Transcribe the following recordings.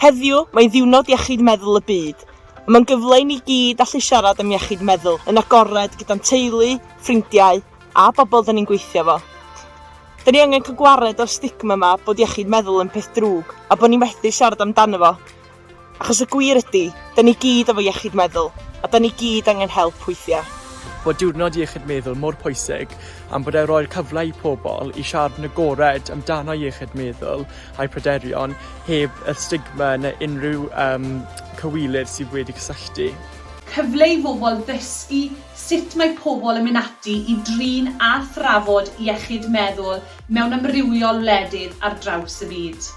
Heddiw, mae'n ddiwrnod iechyd meddwl y byd. Mae'n gyfle i ni gyd allu siarad am iechyd meddwl yn agored gyda'n teulu, ffrindiau a bobl dyn ni'n gweithio fo. Dyn ni angen cael gwared o'r stigma yma bod iechyd meddwl yn peth drwg a bod ni methu siarad amdano fo. Achos y gwir ydi, da ni gyd efo iechyd meddwl, a da ni gyd angen help weithiau. Bod Diwrnod Iechyd Meddwl mor pwysig am bod e roi'r cyfle i pobl i siarad yn agored amdano iechyd meddwl a'u pryderon heb yr stigma neu unrhyw um, cywilydd sydd wedi cysylltu. Cyfle i bobl ddysgu sut mae pobl yn mynd ati i drin a thrafod iechyd meddwl mewn amrywiol wledydd ar draws y byd.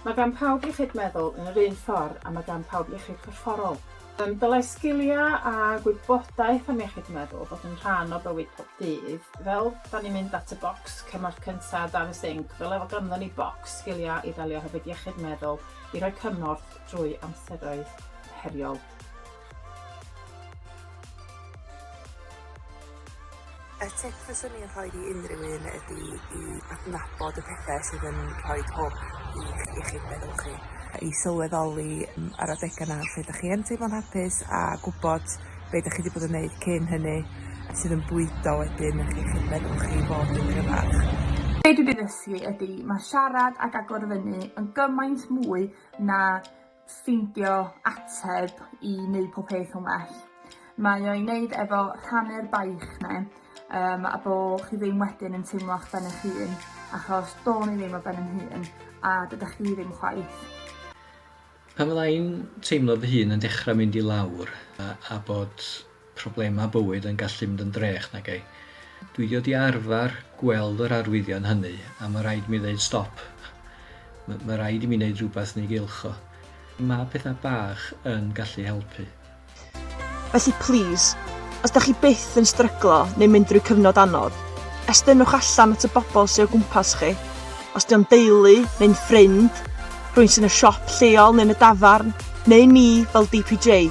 Mae gan pawb iechyd meddwl yn yr un ffordd a mae gan pawb iechyd corfforol. Yn dylai sgiliau a gwybodaeth am iechyd meddwl fod yn rhan o bywyd pob dydd. Fel da ni'n mynd at y bocs cymorth cyntaf dan y sinc, fel efo ganddon ni bocs sgiliau i ddelio hefyd iechyd meddwl i roi cymorth drwy amseroedd heriol. Y tip fyswn i'n rhoi i unrhyw un ydi i adnabod y pethe sydd yn rhoi hwb i chi- i chi'ch meddwl chi. I sylweddoli m- ar adega 'na lle 'dach chi yn teimlo'n hapus a gwbod be' 'dach chi 'di bod yn neud cyn hynny sydd yn bwydo wedyn yn chi'ch meddwl chi i fod yn gryfach. Be' dwi 'di ddysgu ydi ma' siarad ag agor fyny yn gymaint mwy na ffeindio ateb i wneud pob peth yn well. Mae o i wneud efo rhannu'r baich ne um, a bo chi ddim wedyn yn teimlo a'ch ben eich hun achos do'n i ddim o ben yn hun a dydych chi ddim chwaith. Pan fydda i'n teimlo fy hun yn dechrau mynd i lawr a, a bod problemau bywyd yn gallu mynd yn drech nag ei. Dwi 'di dod i arfer gweld yr arwyddion hynny a mae rhaid i mi ddeud stop. Mae ma rhaid i mi wneud rhywbeth yn ei gylch o. Mae pethau bach yn gallu helpu. Felly plis, os da chi byth yn stryglo neu mynd drwy cyfnod anodd, estynnwch allan at y bobl sy o gwmpas chi. os 'di o'n deulu neu'n ffrind, rhywun sy'n y siop lleol neu'n y dafarn, neu ni fel DPJ.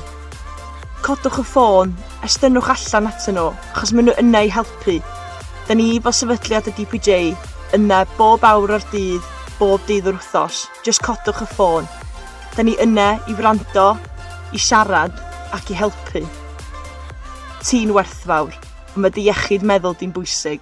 Codwch y ffôn, estynnwch allan atyn nhw, achos maen nhw yna i helpu. Da ni fel sefydliad y DPJ yna bob awr o'r dydd, bob dydd yr wythnos. Just codwch y ffôn. Da ni yna i wrando, i siarad ac i helpu. Ti'n werthfawr, ond mae dy iechyd meddwl di'n bwysig.